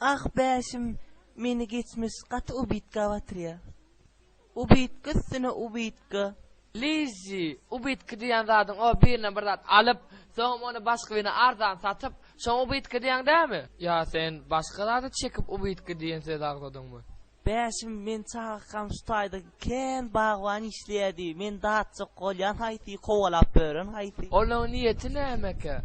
Ah bäşim meni geçmiş gaty ubitga batyrýa. Ubitga üstüne ubitga. Liji, ubitga diýýän zadyň o birine bir zat alyp, soňam ony başga birine arzan satyp, şoňa ubitga diýýäň dämi? Ýa sen başga zada çekip ubitga diýen sözi agzadyňmy? Bäşim men çagakam şu taýda kän bagban işleýädi. Men datjak bolýan haýsy, kowalap bören haýsy? Olaň niýeti nämekä?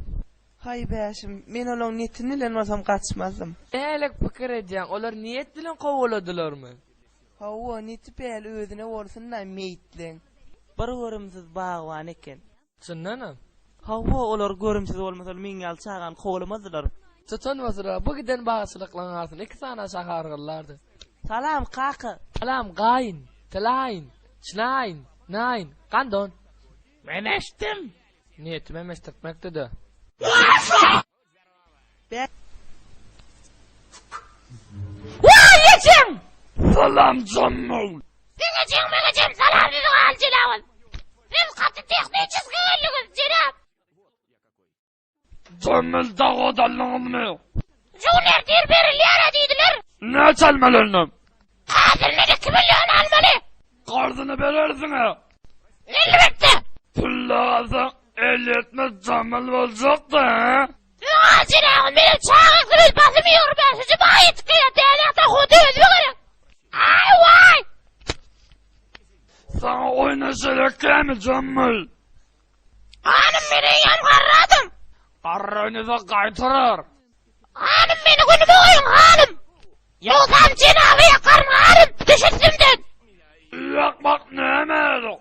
Haý bäşim, men olaň netini bilen bolsam gaçmazdym. Nälik pikir edýäň, olar niýet bilen kowaladylarmy? Hawa, neti päli özüne bolsun-laý meýitleň. Bir görümsiz bagban eken. Çyndanam? Hawa, olar görümsiz bolmasalar meň ýaly çagany kowalamazdylar. Tutan otura, bu giden bagçylyklaryň arasynda iki sany aşa hargyllardy. Salam, kaka! Salam, gaýyn! Tilaýyn! Çlaýyn! Naýyn! Gandon! Men eşitdim! Niýetim hem eşdirtmekdi-dä. Waý ejeň! Salam janymyň! Siziň ejeň meň ejem salam siziň aly jenabym. Siz gaty tehniçeski geldiňiz jenap. Jemil dag odalnyňyzmy? Jüwler dir berilýär-ä diýdiler. Näçe almaly ondan? Hazyryna iki million almaly. Garzyny berersiň-ä. Elbetde. Pully alsaň, elýetmez jamal boljak-da-a. Öň al, jenabym, meniň çaga gyz basym ýigrimi bäşinji maý ýetip gelýär, däneýakdan huddy özüme gerek. Aý-waý! Saňa oýnaşaýak kämi, jamal? Hanym men eýýäm garradym. Garranyza gaýtarar. Hanym meni günüme goýuň, hanym. Ýogsam jenaba ýakaryn, hanym, düş üstümden. Ýakmak näme edok.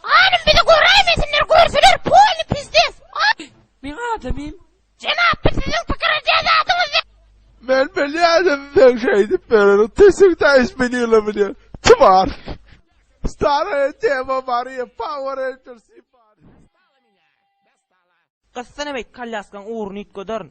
Hanym bizi göräýmesinler, görseler polny pizdes. Aý, meň adamym. Jenap biz siziň pikir edýän zadyňyz ýaly. Men bilýädim seň şeýdip ýöreniň tüsüň täş bilýle bilýän tvar. Staraýa tema Mariýa power ranger sypar. Gyssana beýt kalýaskaň ugruny üýtgederin.